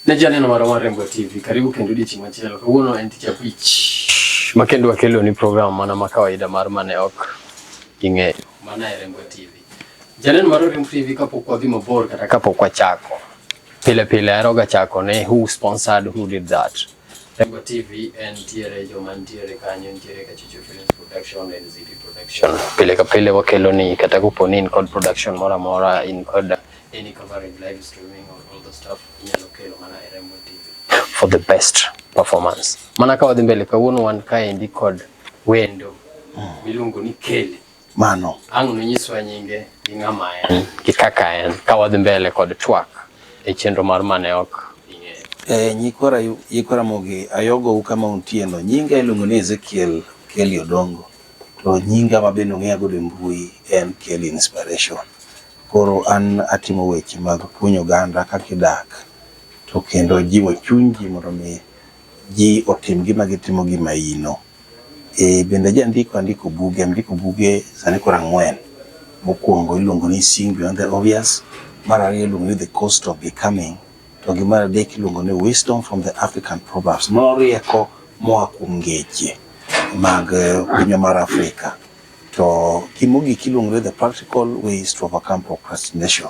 Naja neno mara mara Rembo TV. Karibu kendo di chimwa chelo. Kawuono en tich abich. Makendo wakelo ni program mana ma kawaida mar mane ok ing'eyo. Mana e Rembo TV. Janeno mar Oriemb TV kapok wadhi mabor kata kapok wachako, pile pile aheroga chako ni who sponsored who did that. Rembo TV en tiere joma nitiere kanyo nitiere ka Chuchu Films Production, NZP Production. Pile ka pile wakelo ni kata kopo ni in kod production moro amora in kod any coverage live streaming or all the stuff inyalo kelo mana e Rembo TV for the best performance. Mana ka wadhi mbele kawuono wan kaendi kod wendo miluongo ni Kelly. mano. Ang' nonyiswa nyinge gi ng'ama en gi kaka en ka wadhi mbele kod twak e chenro mar mane ok ing'eyo. E nyikwara yikwa Ramogi ayogou kama untieno. Nyinga iluongo ni Ezekiel Kelly Odongo to nyinga ma bende ung'eya godo e mbui en Kelly Inspiration. Koro an atimo weche mag puonjo oganda kaka idak to kendo jiwo chuny ji mondo mi ji otim gima gitimo gi maino. Ee, bende jandiko andiko buge, andiko buge sani koro ang'wen. Mokwongo iluongo ni Seeing Beyond the Obvious, mar ariyo iluongo ni The Cost of Becoming, to gi mar adek iluongo ni Wisdom from the African Proverbs, mano rieko moa kuom ngeche mag pinywa mar Afrika. To gi mogik iluongo ni The Practical Ways to Overcome Procrastination.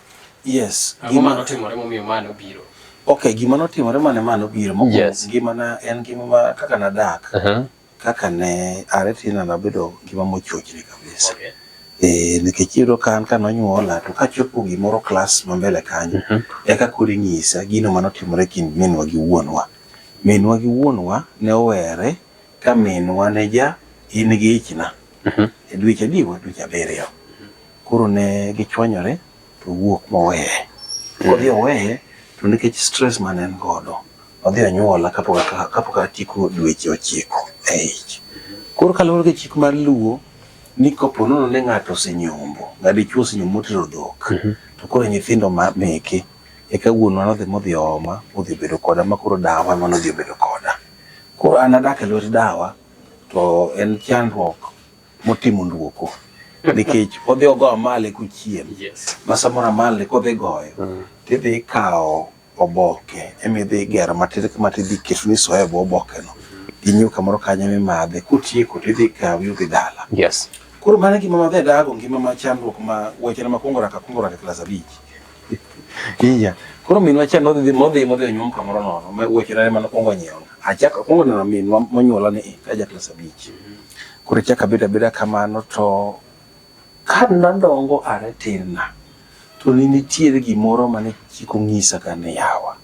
Yes. Ang'o ma notimore momiyo ma nobiro? Okay, gima notimore mane ma nobiro mokuongo yes. ngima na en ngima ma kaka nadak. Uh -huh. Kaka ne are tina nabedo ngima mochochni kabisa. Okay. Eh, nikech iyudo ka an ka nonyuola to kachopo gimoro klas ma mbele kanyo uh -huh. eka koro inyisa gino ma notimore kind minwa gi wuonwa. Minwa gi wuonwa ne owere ka minwa ne ja in gi ichna. Uh mhm. -huh. E dweche adiwa dweche abiriyo. Koro ne gichwanyore to owuok moweye. Kodhi oweye to nikech stress mane en godo, odhi onyuola kapok aka- kapok atieko dweche ochiko e ich. Koro kaluwore gi chik mar Luo ni kopo nono ni ng'ato osenyombo, ng'a dichwo osenyombo motero dhok, to koro nyithindo ma meke eka wuonwa nodhi modhi ooma modhi obedo koda ma koro dawa ema nodhi obedo koda. Koro an adak e lwet dawa to en chandruok motimo nduoko nikech odhi ogo amale kuchiem yes. ma samoro amale kodhi goyo mm. tidhi ikawo oboke emidhi igero matin matidhi keto ni soya bo obokeno gi nyuka kamoro kanyo mimadhe kutieko tidhi ikawi udhi dala yes. koro mano gima madhi adago ngima ma chandruok ma wechena makwongo raka kwongo raka klas abich Iya. Koro minwa cha nodhi modhi modhi onyuom kamoro nono. Ma wuoche na mano kwongo nyiewo. Achak kwongo neno minwa monyuola ni ka ja klas abich. Koro chak abeda beda kamano to ka nadongo are tin na to ne nitiere gimoro mane chiko ng'isa ka ne yawa.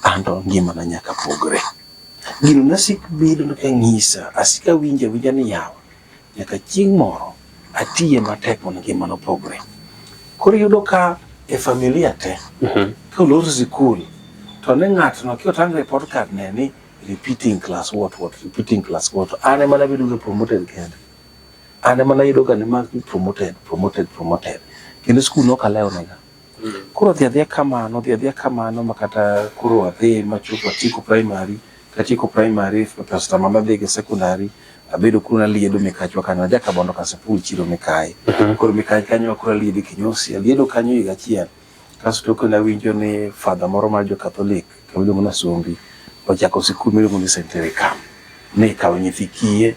Anto ngima na nyaka pogre. Gino nasik bedo ka ng'isa asika winja winja ni yawa. Nyaka chieng' moro atiye matek mondo ngima no pogre. Koro iyudo ka e familia te, mhm. ka olor sikul, to ne ng'atno ki otang' report card ne ni repeating class what what, repeating class what, an ema nabedo ga promoted kende. An ema nayudo ga ni mag promoted, promoted, promoted. Kendo skul nokalewo nega. Koro odhi adhiya kamano, odhi adhiya kamano ma kata koro adhi machopo atieko primary, katieko primary Pastor Mama adhi go secondary, abedo kuro naliedo Mikachwa kanyo, aja Kabondo Kasipul chiro Mikayi. Mhm. Koro Mikayi kanyo akoro aliedo Kinyosi, aliedo kanyo higa achiel. Kasto kendo awinjo ni father moro mar jo Catholic, kamiluongo na Sombi, ochako sikul miluongo ni St. Erikam. Ni kawo nyithi kiye,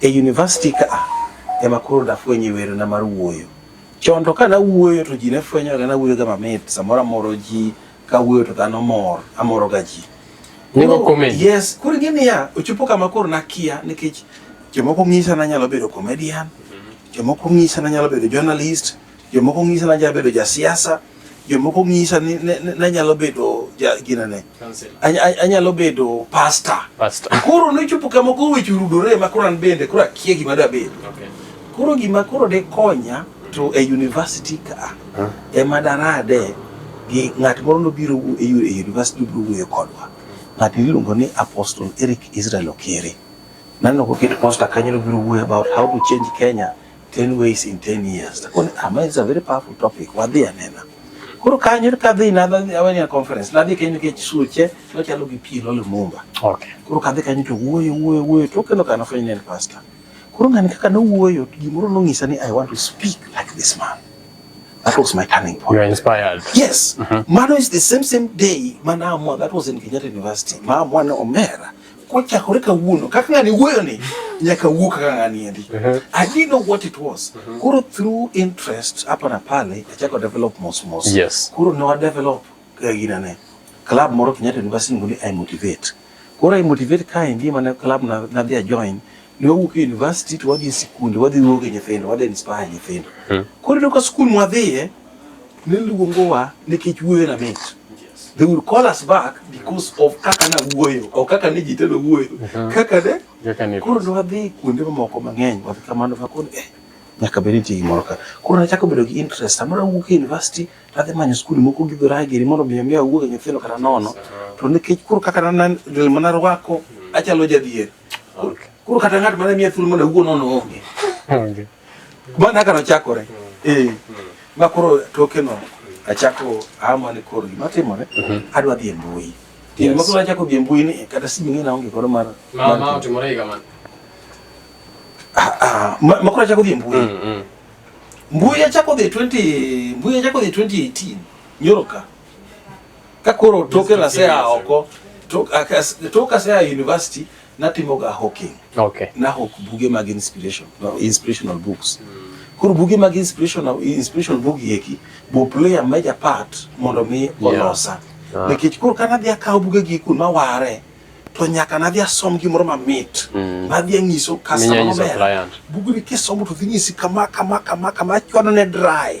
E university ka ema koro dafwenye wero na mar wuoyo. Chon to kana wuoyo to ji ne fwenyo ga na wuoyo ga mamit samoro amoro ji ka wuoyo to dhano mor amoro ga ji. Nego comment. Yes, kuri gini ya ochopo kama koro nakia nikech jomoko ng'isa na nyalo bedo comedian, mhm. jomoko ng'isa na nyalo bedo journalist, Jomoko ng'isa ni anyalo bedo jasiasa, jomoko ng'isa ni anyalo bedo ginene, anyalo bedo pasta. Koro nochopo kama koro weche orudore ma koro an bende koro akia gima dabed. Koro gima koro de konya to e university ka ema darade gi ng'at moro nobiro e university nobiro wuoyo kodwa. Ng'at miluongo ni Apostle Eric Israel Okere. Naneno koket posta kanyo nobiro wuoyo about how to change Kenya 10 ways in 10 years. Lakini ama is a very powerful topic. Wadhi anena. Koro kanyo kadhi nadhi aweni a conference. Nadhi kanyo ke chisuche, no chalo gi pi lolo mumba. Okay. Koro kadhi kanyo to wuoyo wuoyo wuoyo to kendo kana fwenyo ne pastor. Koro ngani kaka no wuoyo gimoro nong'isa ni I want to speak like this man. That was my turning point. You are inspired. Yes. Mm -hmm. Mano is the same same day manaamua that was in Kenyatta University. Maamua ni Omera kochakore kawuono kaka ng'ani wuoyo ni nyaka wuo kaka ng'ani endi uh-huh. I didn't know what it was uh-huh. koro through interest hapa na pale achako develop mos mos yes. koro ne wadevelop eh, gina ne club moro Kenyatta University ngoli I motivate koro I motivate kae ndi mane club na nadhi ajoin ne wawuok e university to wadhi e sikunde wadhi wuoyo gi nyithindo wadhi inspire nyithindo hmm. koro ineno ka skul mwadhiye ne luongowa nikech wuoyo na mit they will call us back because of kaka na wuoyo o kaka ne ji telo wuoyo hmm. kaka ne koro ne wadhi kuonde mamoko mang'eny wadhi kamano kakoro eh nyaka bed nitie gimoro ka koro nachako bedo gi interest samoro awuok e university tadhi manyo skul moko gi dhoragiri mondo mi omi awuog e nyithindo kata nono to nikech koro kaka nanarwako achalo jadhier Okay. Koro kata ng'at mane miya thuolo mondo awuo nono onge. Onge. Bana kano chakore. Eh. Ma koro toke no achako ama ni koro gima timore mhm. adwa dhi e mbui. Yes. Ma koro achako dhi e mbui ni kata simu ng'ina onge koro mar. Ma ma otimore higa man. Ah, ah, ma koro achako dhi e mbui. Mm, mm. Mbui achako dhi 20 mbui achako dhi 2018. Nyoro ka. ka koro toke na sea oko toka sea university natimo ga hawking okay na hawk buge mag inspiration no, inspirational books koro buge mag inspirational inspirational book yeki bo play a major part mondo mi olosa yeah. Ah. nikech koro ka nadhi akawo bugegi kun maware to nyaka nadhi asom gimoro mamit mm. nadhi ang'iso customer maber bugni kisomo to dhi nyisi kama kama kama kama achwado ne dry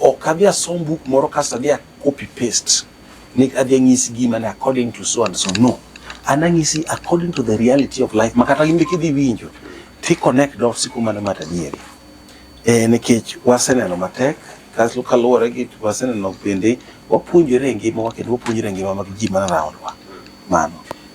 Ok adhi asom buk moro kasto adhi a copy paste ni adhi anyisi gima ni according to so and so no. An anyisi according to the reality of life makata in be kidhi winjo ti connect dots kuma ne mata dieri. Eh, nikech waseneno matek kasto kaluwore gi waseneno bende wapuonjore e ngimawa kendo wapuonjore e ngima mag ji man around wa. Mano.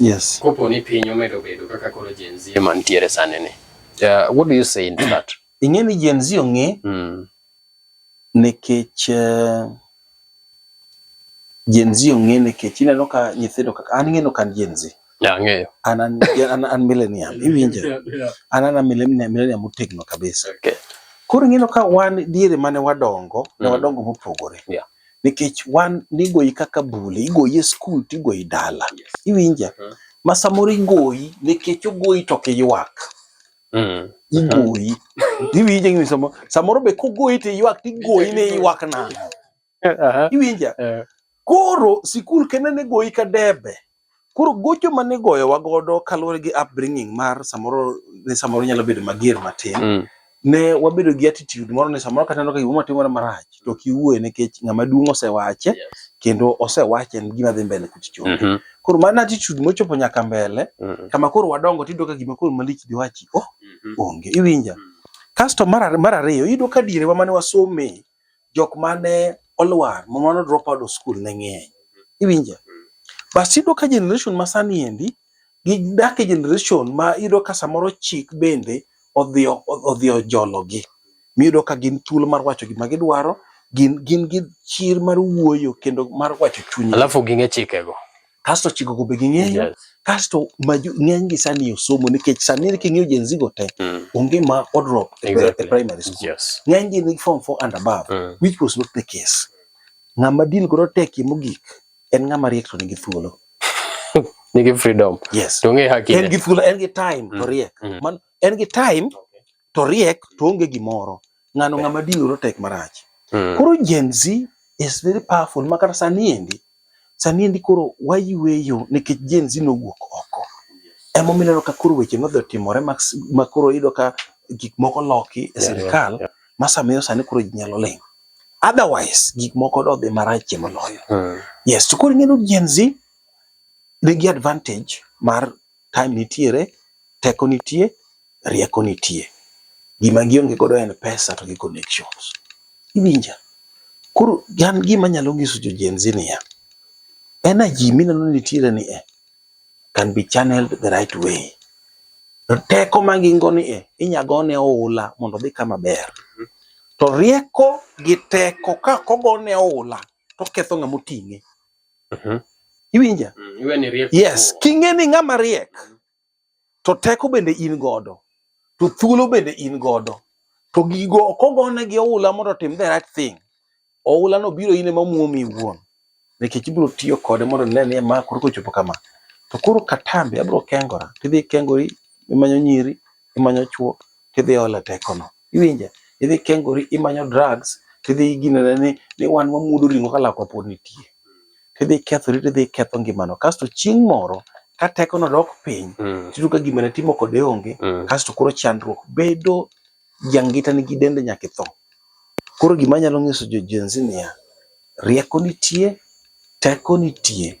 Yes. Kopo ni piny omedo bedo kaka koro Gen Z ema nitiere sani ni. Uh, what do you say in that? Ing'e ni Gen Z ong'e mm. nekech uh, eh, Gen Z ong'e nekech ineno ka nyithindo kaka an ng'eno kan Gen Z. Yeah, ng'eyo. An an, an, an millennium iwinje. yeah, yeah. An an millennium millennium motegno kabisa. Okay. Koro ing'eno ka wan diere mane wadongo mm. ne wadongo mopogore. Yeah. nikech wan nigoyi kaka bule, igoyi e skul to igoyi dala. Iwinja? Mhm. Ma samoro igoyi nikech ogoyi to ok iywak. Mm. Igoyi. Iwinja gini samoro. Samoro be kogoyi to iywak to igoyi ni iywak nang'o. Aha. Iwinja? Eh, Koro sikul kende ne goyi ka debe. Koro gocho mane igoyowa godo kaluwore gi upbringing mar samoro ne samoro nyalo bedo mager matin. Mm. Ne wabedo gi attitude moro ni samoro kata neno ka gimoro timore marach to ok iwuoye nikech ng'ama duong' osewache Yes. kendo osewache en gima dhi mbele kuch chonge. Mhm. Koro mano attitude mochopo nyaka mbele Mm. kama koro wadongo tiyudo ka gima koro malich diwachi oh Mhm. onge iwinja. Mm. Kasto mar ar- mar ariyo iyudo ka dierewa mane wasome jok mane olwar ma mano drop out of school ne ng'eny. Iwinja? Bas iyudo ka generation ma sani endi gidak e generation ma iyudo ka samoro chik bende odhi odhi ojologi. Miyudo ka gin thuolo mar wacho gima gidwaro, gin gin gi chir mar wuoyo kendo mar wacho chunygi. Alafu ging'e chikego. kasto chiko go be ging'eyo yes. kasto ng'eny gi sani osomo nikech sani king'iyo Gen Z go te mm. onge ma odrop e exactly. e primary school yes. ng'eny gi ni form 4 and above mm. which was not the case ng'ama din koro tek mogik en ng'ama riek to nigi thuolo nigi freedom yes to ng'e hakine en gi thuolo en gi time mm. to riek mm. man en gi time to riek to onge gimoro ng'ano ng'ama dinore tek marach mm. koro Gen Z is very powerful ma kata sani endi sani endi koro wayweyo nikech Gen Z nowuok oko ema omineno ka koro weche nodhi otimore ma koro yudo ka gik moko loki e sirikal yeah, yeah, yeah. ma samiyo sani koro ji nyalo ling otherwise gik moko dodhi marach moloyo mm. yes to koro ing'eyo Gen Z nigi advantage mar time nitiere, teko nitie, rieko nitie. Gima gionge godo en pesa to gi connections. Iwinja? Koro an gima nyalo nyiso jo Gen Z niya, energy mineno ni nitiere ni e can be channeled the right way. To teko ma gin go ni e inya gone oula mondo odhi kama ber. To rieko gi teko ka kogone oula to ketho ng'ama oting'e. uh mhm. -huh. Iwinja? Mm, yes, king'e ni ng'ama riek mm. to teko bende in godo to thuolo bende in godo to gigo ok ogone gi oula mondo otim the right thing. Oula no biro in ema muomi iwuon nikech ibiro tiyo kode mondo ne ni ma koro kochopo kama to koro katambi abiro kengora tidhi kengori imanyo nyiri imanyo chuo tidhi ole tekono Iwinja? Idhi kengori, imanyo drugs, tidhi iginene ni, ni wan wamuodo ring'o ka lakwa pod nitie. Tidhi ikethori, tidhi iketho ngimano. Kasto chieng' moro, ka tekono dok piny, mm. tiyudo ka gima ne timo kode onge, mm. kasto koro chandruok bedo jangita nigi dende nyaka itho. Koro gima nyalo nyiso jo Gen Z niya, rieko nitie, teko nitie,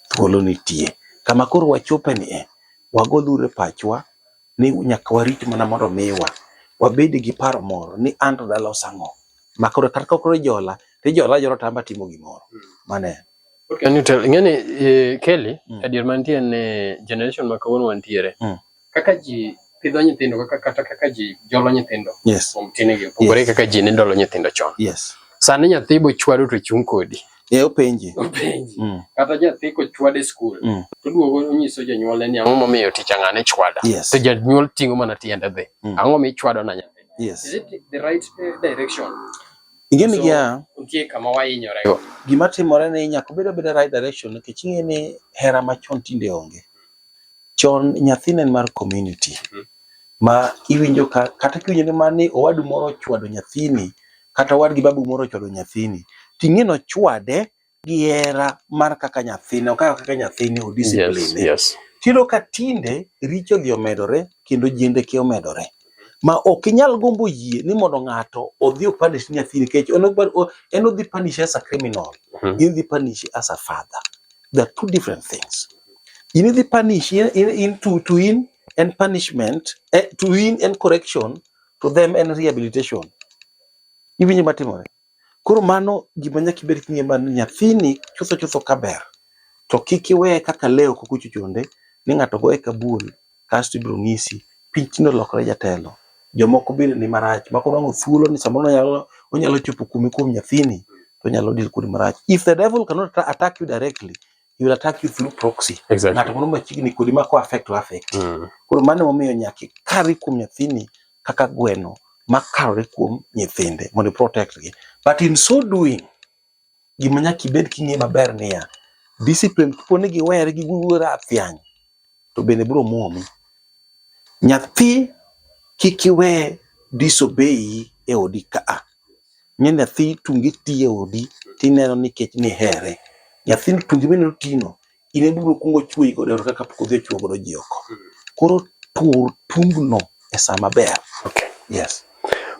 thuolo nitie. Kama koro wachope ni e, wagolure pachwa, ni nyaka warit mana mondo miwa wabed gi paro moro ni an to dala osang'o ma koro kata ka koro ijola to ijola ajora to amba timo gimoro mm. mane Can you tell, ngani eh, Kelly, mm. adier mantie ne generation ma kawuono wantiere. Mm. Kaka ji pidho nyithindo kaka kata kaka ji jolo nyithindo. Yes. Kuom tinigi opogore yes. kaka ji ne dolo nyithindo chon. Yes. Sani nyathi bochwado to chung' kodi. Eh openji. Openji. Mm. Kata jathi kochwade skul mm. to duogo onyiso jonyuolne ni ang'o momiyo tich ang'ane chwada. Yes. To janyuol ting'o mana tiende dhi. Mm. Ang'o mi chwado na nyathi? Yes. Is it the right eh, direction? Ing'e ni gia nitie kama wahinyore go. Gima timore ni nyaka obed abeda right direction nikech ing'e ni hera machon tinde onge. Chon nyathi ne mar community. Mm -hmm. Ma iwinjo ka kata kiwinjo ni mani owadu moro ochwado nyathini kata owadgi babu moro ochwado nyathini, ting'e ni ochwade gi hera mar kaka nyathine, okawe kaka nyathine, Yes, odiscipline. yes. Tiyudo ka tinde richo odhi omedore kendo jendeke omedore. Ma ok inyal gombo yie ni mondo ng'ato odhi opanish nyathini nikech en ok- o- en odhi panish as a criminal. Mhm. In dhi panish as a father. They are two different things. In idhi panish in, in, in to, to in en punishment, eh, to in en correction, to them en rehabilitation iwinjo matimore koro mano gima nyaka ibed king'e ma ni nyathini chutho chutho kaber to kik iweye kaka leo kok ochuchunde ni ng'ato goye ka bul kasto ibiro ng'isi piny tinde olokore jatelo jomoko bende ni marach mako nwango thuolo ni samoro onyalo onyalo chopo kuomi kuom nyathini to onyalo deal kodi marach if the devil cannot atta- attack you directly he will attack you through proxy. Exactly. Ng'ato moro machiegni kodi ma ko affect to affect. Mm. Koro mano momiyo nyaka ikari kuom nyathini kaka gweno makarore kuom nyithinde mondo protect gi. But in so doing, gima nyaka ibed king'e maber niya, discipline kapo ni giwere gi giwuoro athiany, to bende biro muomi. Nyathi kik iwe disobey e odi ka a. Ing'e nyathi tunge ti e odi tineno ni nikech nihere. Nyathi tunge mineno ti no, in e bibiro kuongo chweyi godo e ot kaka pok odhi ochwo godo ji oko. Koro tur tung no e sa maber. Yes.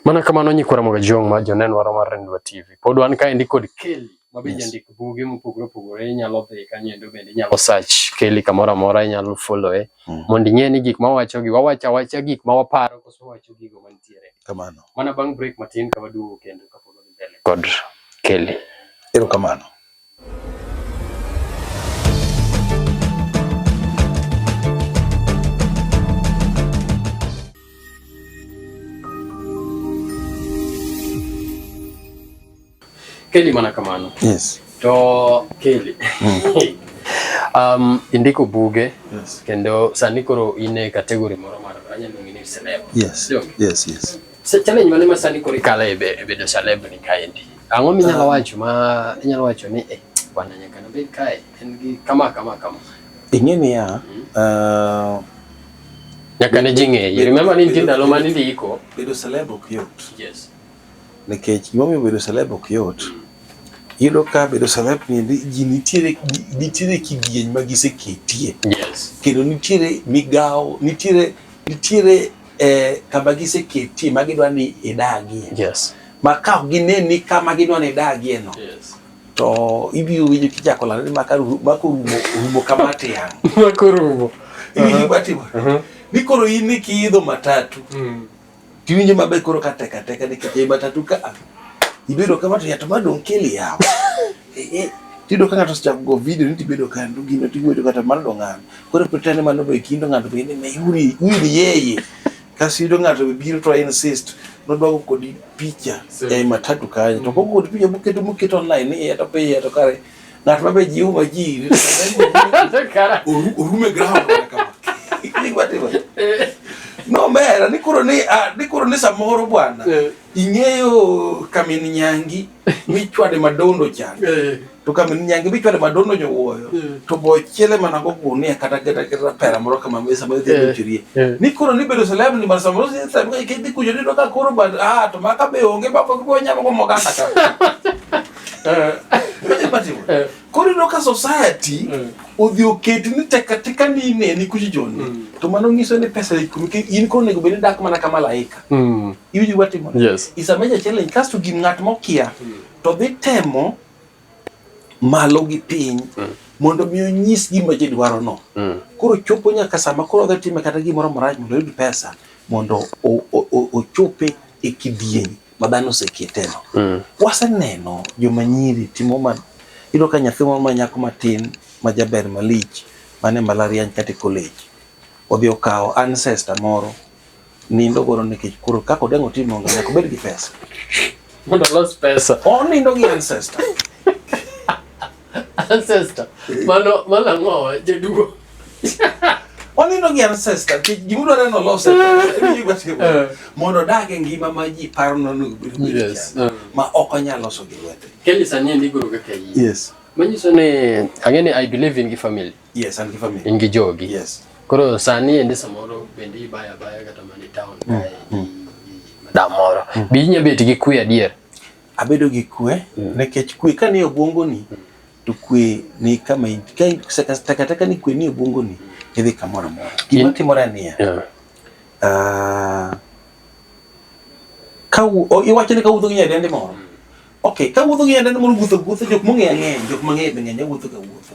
Mana kamano Nyikwa Ramogi Ajong' ma Jonenwaro mar Rendiwa TV. Pod wan kaendi kod Kelly. ma be jandik buge mopogore opogore inyalo dhi kanyendo bende inyalo search Kelly kamoro amora inyalo follow e mm. mondo ing'e ni gik ma wawacho gi wawacho awacha gik ma waparo koso wawacho gigo mantiere kamano mana bang' break matin ka waduogo kendo kapod wadhi mbele kod Kelly erokamano Kelly mana kamano. Yes. To Kelly. Mm. um, indiko buge yes. kendo sani koro in e kategori moro mar anyalo ng'ini celeb. Yes. Dong. Yes, yes. Se challenge mane ma sani koro ikala e bedo celeb ni kaendi. Ang'o minyalo ah. wacho ma inyalo wacho ni eh bwana nyaka nabed kae en gi kama kama kama. Ing'e niya, mm. uh, nyaka ne ji ng'eyi. Remember ni nitie ndalo ma nindiko. Bedo celeb ok yot. Yes. Nikech gima omiyo bedo celeb ok yot, iyudo ka bedo celeb niendi ji nitiere nitiere kidieny ma giseketie. Yes. Kendo nitiere migawo, nitiere nitiere eh, kama giseketie ma gidwa ni idagie. Yes. Ma ka ok gine ni kama gidwa ni idagie no, Yes. to ibiro winjo kichako lando ni maka ru- maka orumo orumo kama tiang'. Makorumo. Iwinjo gima timore? Ni koro in ni kiidho matatu, Mm. Tiwinjo maber koro ka teka teka nikech ei matatu ka a. Ibedo kama to yato madong' kili yawa. Eh, eh. Tido ka ng'ato osechako go video ni tibedo ka ndo gino tiwuoyo kata mar do ng'ano. Koro pretend mano be kindo ng'ato be ni me yuri yuri yeye. Kasi yudo ng'ato be biro to insist nodwago kodi picha ei matatu kanyo. To koko kodi picha muketo muketo online ni yato pe yato kare. Ng'at ma be jiwo ma ji orume ground nomera ni koro ni ah, ni koro ni samoro bwana eh. ing'eyo kamin nyangi michwade madondo chan eh. to kamin nyangi michwade madondo nyowuoyo eh. to bochiele mana go gunia kata kata kata pera moro kama mesa ma dhi chirie ni koro ni bedo celeb ni mar samoro si sa ke dhi kujo ni ka koro ba ah to maka be onge ba ko nyama go moganda ka Eh. Eh. koro ino ka society eh. odhi oketi ni tekateka ni ine ni kuchi joni mm. to mano nyiso ni pesa in koro onego bed ni dak mana ka malaika mm. iwinji watimo is a major challenge kasto gin ng'at mokia mm. to dhi temo malo gi piny mondo mi onyis gima ji dwaro no koro chopo nyaka sama koro odhi time kata gimoro marach mondo oyud pesa mondo ochope e kidieny ma dhano oseketeno. Mm. Waseneno joma nyiri timo ma iyudo ka nyathi moro ma nyako matin ma jaber malich mane malariany kata e college odhi okawo ancestor moro nindo godo nikech koro kaka odengo timo onge nyaka obed gi pesa mondo olos pesa onindo gi ancestor Ancestor. Mano mano ang'o jaduo. Wanindo gi ancestor kech gima dwaro no loss eh. mondo odag e ngima ma ji paro nono yes. Eh. ma ok onyal loso gi lwete. Kelly sani endi guru kaka yi. Yes. Manyiso ni ang'e ni I believe in gi family. Yes, an gi family. In gi jogi. Yes. Koro sani endi samoro bende ibaya baya kata mani town. Mm. mm. Da moro. Mm. Bi nyabet gi kuya dier. Abedo gi kwe mm. nekech kwe ka ni obwongo ni mm. to kwe ni kama takataka ni kwe ni obwongo ni idhi kamoro amora. Gima timore niya yeah. uh, ka iwacho ni kawuotho gi nyadendi moro mm. ok kawuotho gi nyadendi moro wuotho wuotho jok mong'eyo ang'eya jok mang'eyo be ng'eny awuotho ga wuotho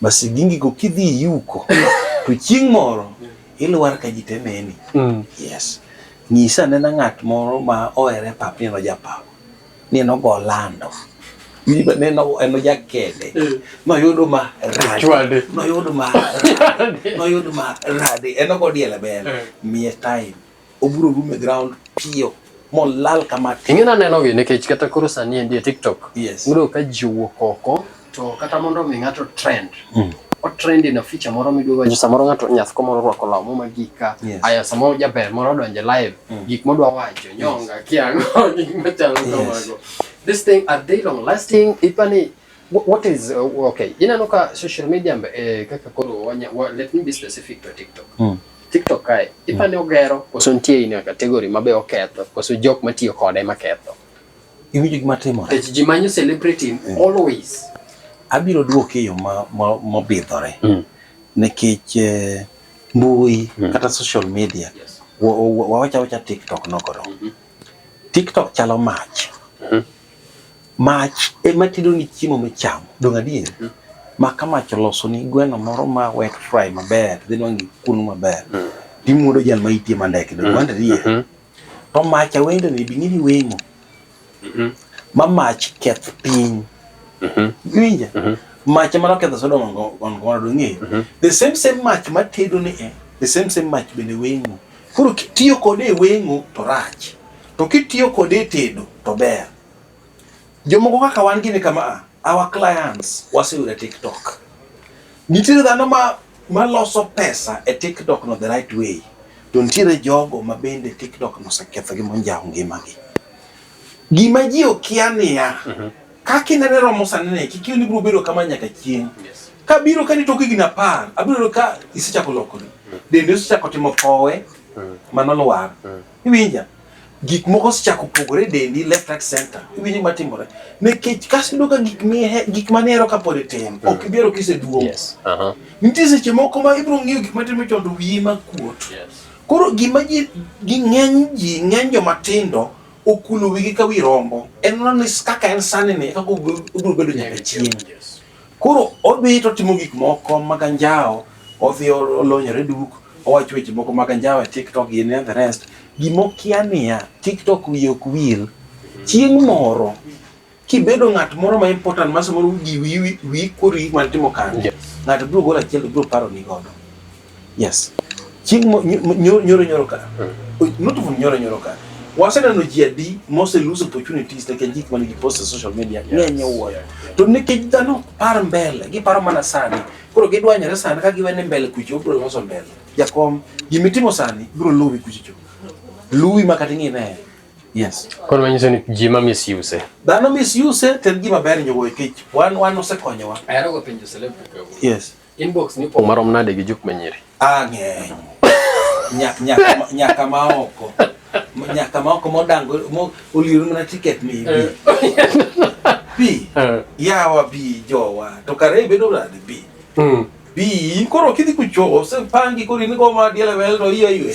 Masigingi go kidhi yuko to chieng' moro ilwar ka ji te neni. Mm. Yes. Nyisa nena ng'at moro ma ohere pap ni en ojapawa. Ni en ogo lando. Ni ba- neno en ojakede. Noyudo ma rade. Chwade. Noyudo ma rade. Noyudo ma rade. En ogo diele bele. Eh. Miye time. Obiro rume ground piyo molal kama. Ing'e naneno gi nikech kata koro sani endi e TikTok. Yes. Udo ka ji owuok oko to kata mondo mi ng'ato trend. Mm. O trend in a feature moro midwa wacho samoro ng'ato nyath komoro rwako law muma gika. Yes. Aya samoro jaber moro donje live mm. gik modwa wacho nyonga yes. kiango gik machalo yes. kamago. This thing are they long lasting ipani What is uh, okay? Inano ka social media mbe eh, kaka koro wanya wa, let me be specific to TikTok. Mm. TikTok kae hmm. ipane mm. ogero koso nitie in category mabe oketho koso jok matiyo kode maketho. Iwinjo gima timore. Tech ji manyo celebrity mm. always. Abiro duoke e yo ma mobidhore. Ma mm. Nikech eh, mbui mm. kata social media. Yes. Wawacha wacha TikTok nokoro. Mm -hmm. TikTok chalo mach. Mm -hmm. Mach ema tedo ni chiemo michamo, dong' adier? Mm. Maka mach oloso ni gweno moro ma wet fry maber, dhi nwang' kunu maber. Mm. Timuodo jal ma itie mandeke, dong' mm. wanda adier? Mm-hmm. To mach awendo ni bing'e ni weng'o. Mm-hmm. Ma mach keth piny. Mm-hmm. Iwinja? Mach ema noketho Sodom on Gomora, dong' ng'eyo? The same same mach ma tedo ni e, the same same mach bende weng'o. Koro tiyo kode e weng'o to rach. To kitiyo kode e tedo to ber. Jomoko kaka wan gini kama a, ah, our clients waseyudo e TikTok. Nitiere dhano ma maloso pesa e TikTok no the right way. To nitiere jogo ma bende TikTok no seketho gi monjawo ngimagi. Gima ji okia niya, mm -hmm. kaka inene romo sani ne, kik ni biro bedo kama nyaka chieng'. Yes kabiro ka nitoke gina par abiro ka isechako lokori dende osechako timo powe mano lwar Iwinja? Gik moko osechako pogore e dendi left right center. Iwinjo gima timore? Nikech kaso iduogo ka gik mihe gik mane ero kapod itin ok mm. ibiro kiseduong'. Yes. Uh -huh. Nitie seche moko ma ibiro ng'iyo gik matimo chon to wiyi ma kuot. Yes. Koro gima ji gi ng'eny ji ng'eny joma tindo okulo wigi ka wi rombo. En ni kaka en sani ni kaka obiro bedo nyaka chieng'. Koro odhi to timo gik moko mag anjawo, odhi olonyore duk, owacho weche moko mag anjawo e TikTok gi ne the rest. Gima okia niya, TikTok wiye ok wil. Chieng' moro kibedo ng'at moro ma important ma samoro wiyi wiyi kori mar timo kambi, ng'ato biro golo achiel to biro paroni godo. Yes. Chieng' mo- nyo- mo- nyoro nyoro nyoro ka. O- Not even nyoro nyoro ka. Waseneno ji adi mose lose opportunities nikech gik mane gipost e social media ng'eny owuoyo. To nikech dhano ok par mbele, giparo mana sani. Koro gidwanyore sani ka giwene mbele kucho obro loso mbele. Jakom, gima itimo sani bro luwi kucho. Luwi ma kata ing'ine. Yes. Koro manyiso ni ji ma misuse. Dhano misuse to en gima ber nyowo nikech wan wan osekonyowa. Ahero go penjo celebrity. Yes. Inbox ni pong' marom nade gi jup manyiri? Ah, ng'eny. Nyaka nyaka nyaka ma oko. Nyaka ma oko modango mo oliru mana tiket mi bi. Eh. Bi. Eh. Yawa bi jowa. To kare bedo nade bi. Mm. Bi koro kidhi kucho ose pangi koro in go ma diele wel to iye iwe.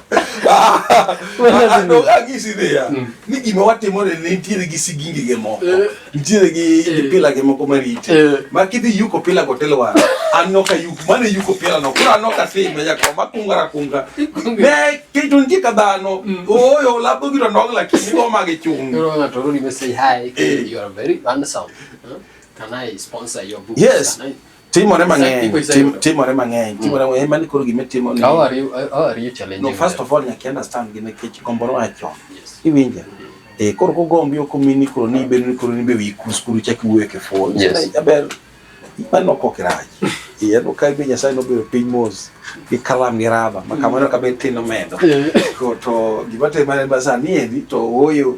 Agisi dhiya mm. ni gima watimo ne nitiere gi sigingi gi moko eh. nitiere gi eh. pila gi moko marite eh. ma kidhi yuko pila go telo wara an noka yuk mane yuko pila no kura noka sime ya koma kunga ra kunga ne kitu nje ka dhano mm. oyo labo giro ndong la kini go magi chung no na to rudi say hi you are very handsome can i sponsor your book yes Timore mang'eny, timore mang'eny, timore mang'eny, mani koro gima timo ni. How are you, how are you challenging? No, first of all, nyaki understand gine kech gomboro acho. Iwinja? Eh, koro ko gombi oko mini koro ni ibe ni koro ni be wi kus kuru chaki wuye ke fuol. Yes. Aber, mani no kokiraj. Iya no kai be nyasaye no be piny mos. Gi kalam gi raba, makamano kabe tino medo. Ko to gima te mani basa ni endi to oyo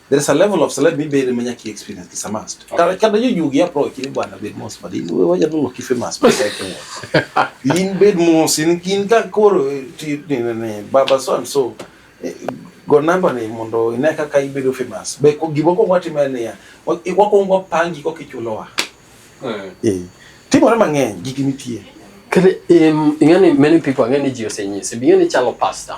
There is a level of let me be the manyaki experience kisa must. Kada kada you you ya pro kile bwana bed mos but in we waja no kife mas but I can. In bed mos in kin ka koro eh, ti ne ne baba so and so eh, go number ne mondo ine kaka ibedo famous. Be ko gibo ko wati mane ya. Wako ngwa pangi ko kichulowa. Eh. eh. Timore mang'eny gigi nitie. Kare um, ing'ani many people ang'e ni ji osenyisi, ing'e ni chalo pastor.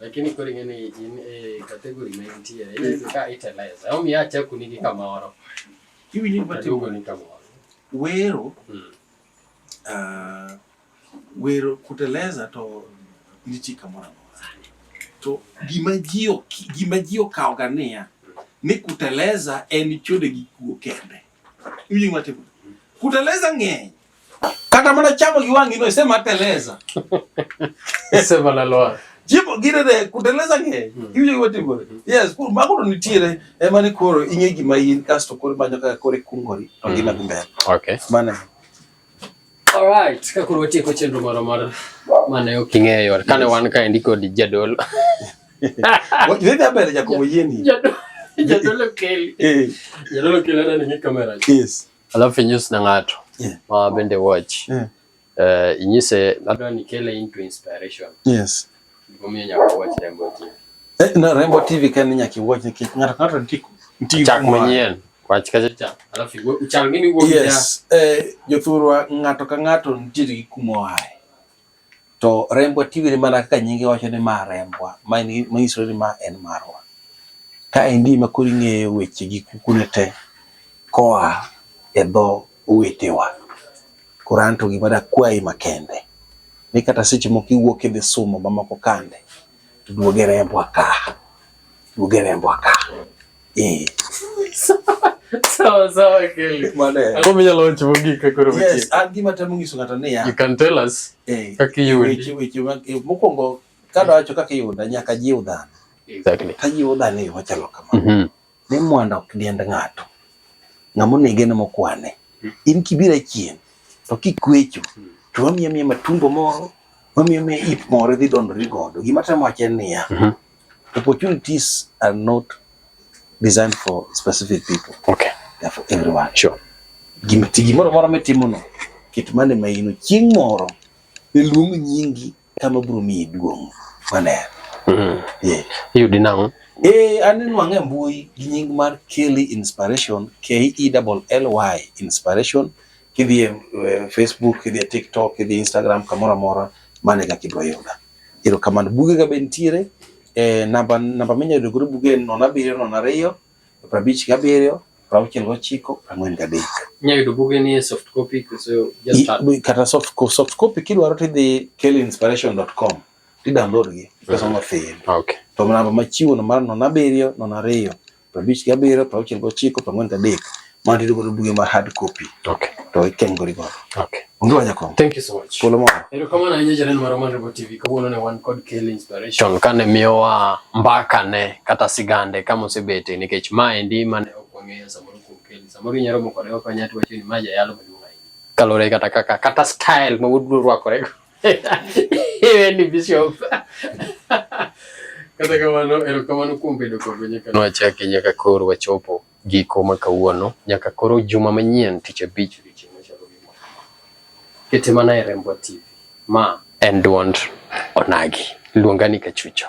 Lakini kori ngene in e kategori ma intie in ka iteleza. Au mi acha kunigi kamoro. Hivi ni batigo ni kamoro. Wero. Mm. Uh, wero kuteleza to nitie kamoro amora. To gima ji gima ji okawoga niya ni kuteleza en chode gi kuo kende. Hivi ni batigo. Kuteleza ng'eny. Kata mana chamo gi wang'i no isema teleza. Isema la loa. Jipo gire de kuteleza nge. Hmm. Iwinjo gima timore. Hmm. Yes, kur mago to nitiere ema ni koro ing'e gima in kasto koro manyo kaka koro ikungori to hmm. gima dhi mbele. Okay. Mane. All right, ka koro watieko chenro moro mar mane ok ing'eyo. Kane wan ka endi kod jadolo. Wewe hapa ni Jacobo Yeni. Jadolo Kelly. Eh. Jadolo Kelly ana ni kamera. Yes. alafu inyus na ng'ato yeah. ma bende watch yeah. uh, inyise adwa ni kele into inspiration yes gimomiyo nyaka watch Rembo TV eh, na Rembo TV kan nyaka watch nikech ng'ato ng'ato nitie nitie chak manyien wach kacha cha alafu uchal ngini wuok yes eh jothurwa ng'ato ka ng'ato nitie gi kuma oaye To rembwa tiwire mana kaka nyinge wacho ni ma rembwa, ma en ma nyiso ni ma en marwa. Ka endi ema koro ing'eyo weche gi kukune te koa e dho owetewa. Koro anto gima dakwayi makende, ni kata seche moko iwuok idhi sumo mamoko kande, to duog e rembwa ka, duog e rembwa ka. Eh. Sawa sawa Kelly. Mane. Ako menya lo chivo gi ka koro weche. Yes, an gima temo nyiso ng'ato ni ya. You can tell us. Eh. Kaka yudi. Weche weche mag eh, mokwongo kada wacho kaka yuda nyaka jiw dhano. Exactly. Ka jiw dhano yo machalo kamano. Mm -hmm. Ni mwanda ok diend ng'ato. Ng'amo nege ne mokwane. In kibira chien to kikwecho to wamiya miya matumbo moro wamiya miya ip moro idhi dondori godo. Gima temo wacho en niya. Mm -hmm. Opportunities are not designed for specific people. Okay. They are for everyone. Sure. Gimoro moro mitimono kit mane ma ino chieng' moro iluong nyingi kama biro miyi duong' maler. Mm. Yeah. Iyudi nang'o? Eh, aneno ang'e mbui gi nying mar Kelly Inspiration, K E L L Y Inspiration Kidhi e eh, Facebook, kidhi e TikTok, kidhi e Instagram, kamoro amora mano e kaka ibiro yuda. Erokamano. Bugega be nitiere e namba namba minyalo yudo godo buge en nono abiriyo nono ariyo prabich gabiriyo prauchiel gochiko prang'wen gadek. Inyalo yudo buge ni e soft copy koso just kata soft copy soft copy kidwaro tidhi kelinspiration.com ti download gi pesa ma fiyo. Okay. To namba machiwo no mar nono abiriyo nono ariyo prabich gi abiriyo, prauchiel gi ochiko, prang'wen gi adek. Mano tiyudo godo buge mar hard copy. Okay. To ikeny godo godo. Okay. Onge wanya kom. Thank you so much. Polo mo. Ero kama na nyeje nen maro manribo TV kawuono ne wan kod Kel Inspiration kane miyowa mbaka ne kata sigande kama osebete nikech ma endi mane ok wang'eyo samoro kuom Kel. Samoro inyalo moko ne ok wanyati wacho ni ma jayalo maduong' ahinya. Kalore kata kaka kata style ma wuod rwakore. Iwe ni bishop. Kata kamano erokamano kuom bedo kodwa nyaka nwachaki nyaka koro wachopo giko ma kawuono nyaka koro juma manyien tich abich odiochieng' machalo gi ma. Kete mana e Rembwa TV. Ma en duond onagi. Luonga ni Kachucho.